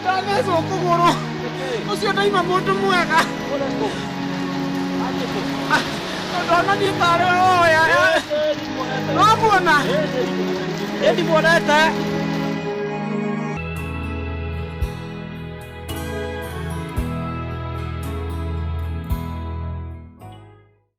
ndathecwo kũgũrũ ũcio ndaima mũndũ mwega ndona niĩ tarĩ oya wamuona ndimuonete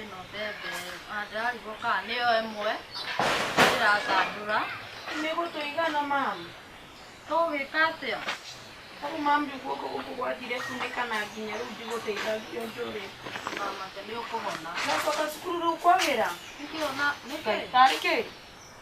Ĩno mbembe na ndĩrarigwo kana nĩyo ĩmwe ndĩrathandũra. Mĩgũtũ igana mama? Tũgwĩka atĩa? Ũguo mami guo gũkũ gwathire kunĩka na nginya rĩu ndigũteithagio njũrĩ. Mama, nĩ ũkũhona. Nakuo gacukuru rĩu kwagĩra? Nĩkĩ? Tarĩ kĩ?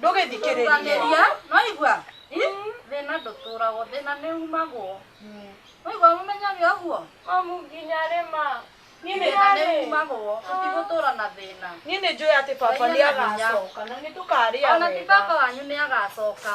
ndũgĩthikĩrĩria noigua thĩna ndũtũragwo thĩna nĩ umagwo noigua mũmenyage ũguo mamu nginya rĩma thĩna nĩ umagwo tũtigũtũra na thĩna niĩ nĩ njũĩ atĩ baba nĩ agacoka na nĩ tũkarĩa ona ti baba wanyu nĩ agacoka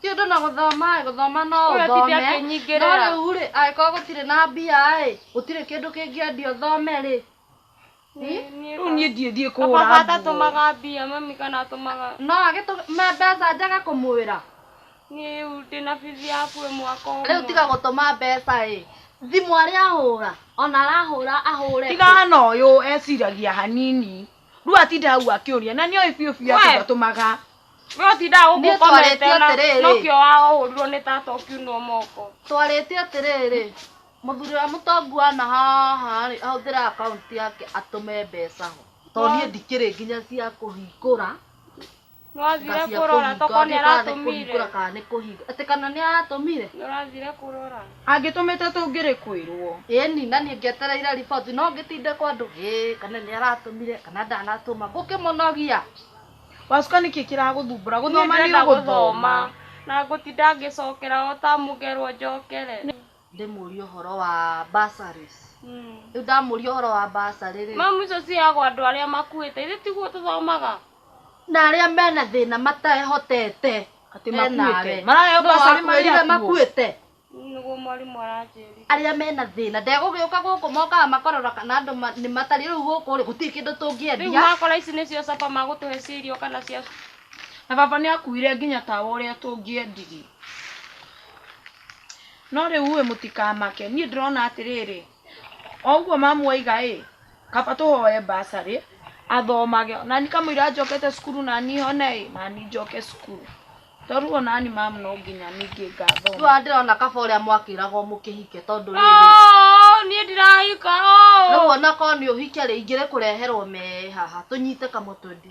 ti ũndũ na gũthoma ĩ, gũthoma no Ũyũ ti ũthome ndakĩnyingĩrĩra. no rĩu rĩ angĩkorwo gũtirĩ na mbia ĩ gũtirĩ kĩndũ kĩngĩendio thome rĩ rĩu niĩ ndiĩ thiĩ baba kũhũra nguo atatumaga mbia mami kana atumaga no agĩtũme mbeca njage kũmwĩra niĩ rĩu ndĩna bithi yaku ĩ mwaka ũmwe rĩu tiga gũtũma mbeca ĩ thimũ arĩa ahũra ona arahũra ahũre kũ? tigana ũyũ eciragia hanini rĩu atinda hau akĩũria na nĩoĩ biũ biũ atĩ We. ndatũmaga we ũtindaga gũkũ Niĩ twarĩtie ũkomete na atĩrĩrĩ. nokio wahũrirwo nĩ tata ũkiunwo moko twarĩtie atĩrĩrĩ mũthuri wa mũtongu wana haha rĩ ahũthĩra akaunti yake atũme mbeca ho tondũ niĩ ndikĩrĩ nginya cia kũhingũra Nĩwathire Ngacia kũrora kũhinga, tokorwo nĩ ndĩkaathe aratũmire. kũhingũra kana nĩ kũhinga atĩ kana nĩ aratũmire Nĩũrathire kũrora. angĩtũmĩte tũngĩrĩ kwĩrwo ĩni na niĩ ngĩetereire riboti no ngĩtinde kwa andũ ĩĩ kana nĩ aratũmire kana ndanatũma ngũkĩmũnogia wacuka nĩkĩ kĩragũthumbũra Niĩ gũthoma nĩ ndĩrenda ũgũthoma gũthoma. Na ngũtinda ngĩcokera o tamu ngerwo njokere. ndĩmũrie ũhoro wa bursaries rĩu ndamũria ũhoro wa bursary rĩ Mamu icio ciheagwo andũ arĩa makuĩte. Ithe tiguo tũthomaga. na arĩa mena thĩna matehotete Atĩ we makuĩte. nawe. Maraheo Nũũ bursary marĩ wakuĩrire akuũ? makuĩte Nĩguo mwarimũ aranjĩrire. arĩa mena thĩna ndegũgĩũka gũkũ mokaga makarora kana andũ ma- nĩ matari rĩu gũkũ rĩ gũtirĩ kĩndũ Rĩu tũngĩendia makora ici nĩcio caba magũtũhe cia irio kana cia na baba nĩ akuire nginya tawa ũrĩa tũngĩendirie No rĩu-ĩ mũtikamake, niĩ ndĩrona atĩrĩrĩ, o ũguo mamu oiga-ĩ, kaba tũhoe mbacarĩ athomage, o nani kamũira njokete cukuru nani hone-ĩ, nani njoke cukuru, to rĩu o nani mamu no nginya ningĩ ngathoma. Rĩu ona ndĩrona kaba ũrĩa mwakĩragwo mũkĩhike tondũ rĩrĩ, Oo, niĩ ndirahika oo. rĩu ona korwo nĩ ũhike-rĩ, ingĩrĩkũreherwo mee haha, tũnyite kamũtĩ.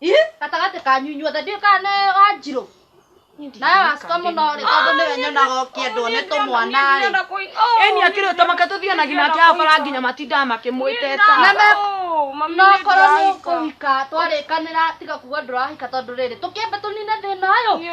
Ih, gatagatĩ kanyu inyuothe ndiũ kana nĩ wanjirũ nawe wacuka mũno rĩ tondũ nĩwe nyonaga ũkĩendwo nĩ tũmwana rĩ Eni akĩrĩ ũtamaka tũthiĩ na nginya kĩa bara nginya matindaga makĩmwĩteta. no korwo nĩ ũkũhika twarĩkanĩra tiga kuga ndũrahika tondũ rĩrĩ tũkĩambe tũnine thĩna ũyũ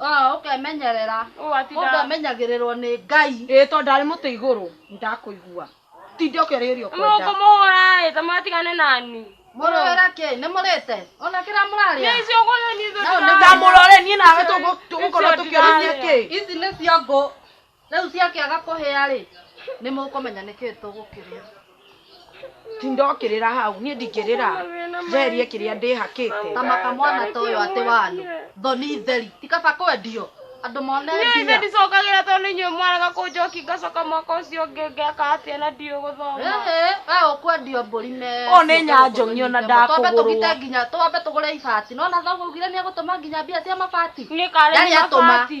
Ah, ũkemenyerera Ũũ ati mũndũ nda- amenyagĩrĩrwo nĩ ngai ĩĩ tondũ ndarĩ mũtĩ igũrũ ndakũigua tinde ũkĩrĩrĩria ũkwenda mũkũmũhũra ĩ ta matigane nani mũrĩra kĩ nĩ mũrĩte ona kĩrĩa mũrarĩa nĩcio gũthoni No, nĩ ndamũrore niĩ nawe tũgũ- tũgũkorwo Icio tũkĩrĩria ndĩrarĩa. kĩ ici nĩcio ngũ Rĩu ciakĩaga kũhĩa-rĩ, nĩ mũkũmenya nĩkĩ tũgũkĩrĩa. Ti ndokĩrĩra hau, niĩ ndingĩrĩra njeherie kĩrĩa ndĩhakĩte. Ta maka mwana ta ũyũ atĩ wanũ, thoni theri, ti kaba kwendio andũ mone mbia. Niĩ ithe ndicokagĩra tondũ nĩ inyuĩ mwarega kũnjoki ngacoka mwaka ũcio ũngĩ ngeka atĩa na ndiũĩ gũthoma. Ĩhĩ, we ũkwendio mbũri me. Ũũ nĩ nyanjong'i ona ndakũgũrwo. Twambe tũgite nginya, twambe tũgũre ibati. Nĩwona thoguo augire nĩegũtũma nginya mbia cia mabati. Nĩ karĩ nĩ mabati.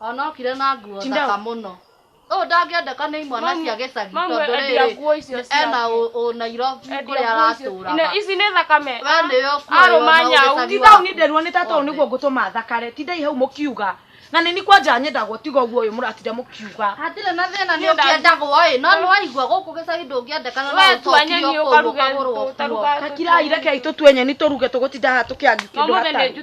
Onokire na nguo thaka mũno. Ũyũ ndangĩendeka nĩ imwana cia gĩcagi tondũ rĩrĩ ena ũ Nairobi kũrĩa aratũraga. Ici nĩ thakame. We nĩ ũkuoywo na ũgĩcagi Ti thau nĩ nderwo nĩ tata ũyũ nĩguo ngũtũma thakare. Tindai hau mũkiuga. Na nĩ ni kwanja nyendagwo tiga ũguo ũyũ mũratinda mũkiuga. Hatirĩ na thĩna nĩ ũkĩendagwo ĩ no nĩ waigua gũkũ gĩcagi ndũngĩendeka na no ũcokio kũu ũkagũrwo kuo. Takirai rekei tũtue nyeni tũruge tũgũtinda haha tũkĩangi kĩndũ hatarĩ.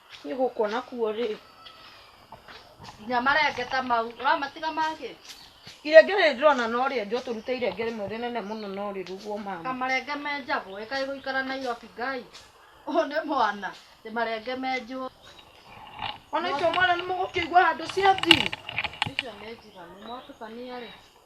Niĩ gũkũ nakuo rĩ, nginya marengeta mau ũramatiga mangĩ irenge rĩrĩ ndĩrona no rĩenjwo tũrute irenge rĩmwe rĩnene mũno no rĩrugwo mama kamarenge menjagwo ĩ kaĩ gũikara Nairobi ngai ũyũ nĩ mwana ĩ marenge menjwo ona icio mwana nĩ mũgũkĩigua handũ ciathi icio nĩ njiganu mwatukania rĩ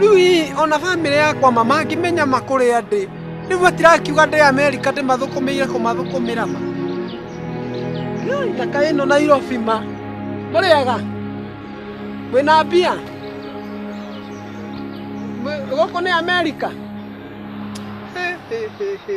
rĩu ii ona bamĩrĩ yakwa ma mangĩmenya ma kũrĩa ndĩ rĩu matirakiuga ndĩ amerika ndĩmathũkũmĩire kũmathũkũmĩra ma Ai, thaka ĩno nairobi ma mũrĩaga wĩna mbia Mwe- gũkũ nĩ amerika He, he, he, he.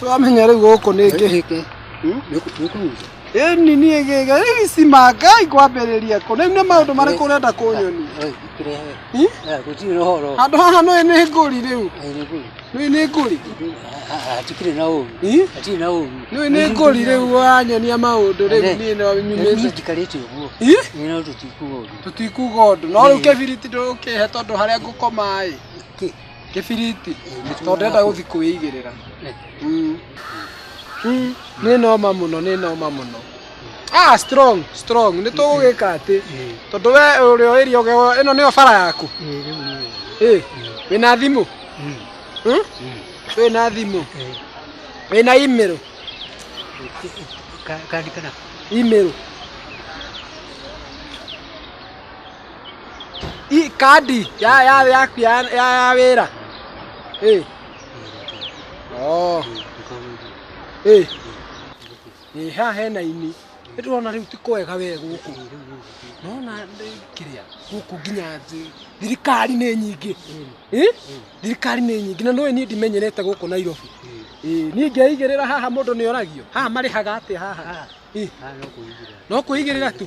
Tũramenya rĩu gũkũ nĩ ngĩ. Gĩkĩ. Hmm? Nĩ kũguca. Ĩni niĩ gĩga gĩcima Ngai kwambĩrĩria kũ. Rĩu nĩ maũndũ marĩkũ ũrenda kũnyonia? Hmm? Gũtirĩ na ũhoro. Handũ haha nĩ nĩ ngũri rĩu. Nĩ nĩ ngũri. Hatikĩrĩ na ũru. Hmm? Hatirĩ na ũru. Nĩ nĩ ngũri rĩu wanyonia maũndũ rĩu niĩ no nyumĩte. Nĩ tikarĩte ũguo. Nĩ no tũtikuga ũndũ. Tũtikuga ũndũ. No rĩu kĩbiriti ndũkĩhe tondũ harĩa ngũkoma ĩ. Kĩbiriti. Tondũ ndĩrenda gũthiĩ kwĩigĩrĩra. Mm. Mm. Nĩ noma mũno, nĩ noma mũno. Ah, strong, strong. Nĩ tũgũgĩka atĩ. Tondũ we ũrĩa ũĩria ũgewa, ĩno nĩyo bara yaku. Ĩ, wĩna thimũ? Hmm? Wĩna thimũ? Wĩna imĩrũ? Imĩrũ. i kandi ya ya yaku ya ya ya wĩra ĩ oh ĩ ĩ haha hena ini nĩ tũrona rĩu ti kwega we gũkũ nona kĩrĩa gũkũ nginya thĩ thirikari nĩ nyingĩ ĩ thirikari nĩ nyingĩ na nũĩ niĩ ndimenyerete gũkũ Nairobi ĩ niĩ ngeigĩrĩra haha mũndũ nĩ oragio haha marĩhaga atĩa haha ĩ no kũigĩrĩra tu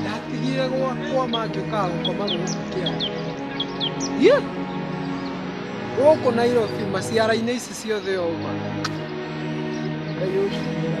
ndatigire gwakwa mangĩũkaga gũkoma gũkũ kĩanda Yĩ! gũkũ nairobi maciara-inĩ ici ciothe oma ngai ũnjigĩre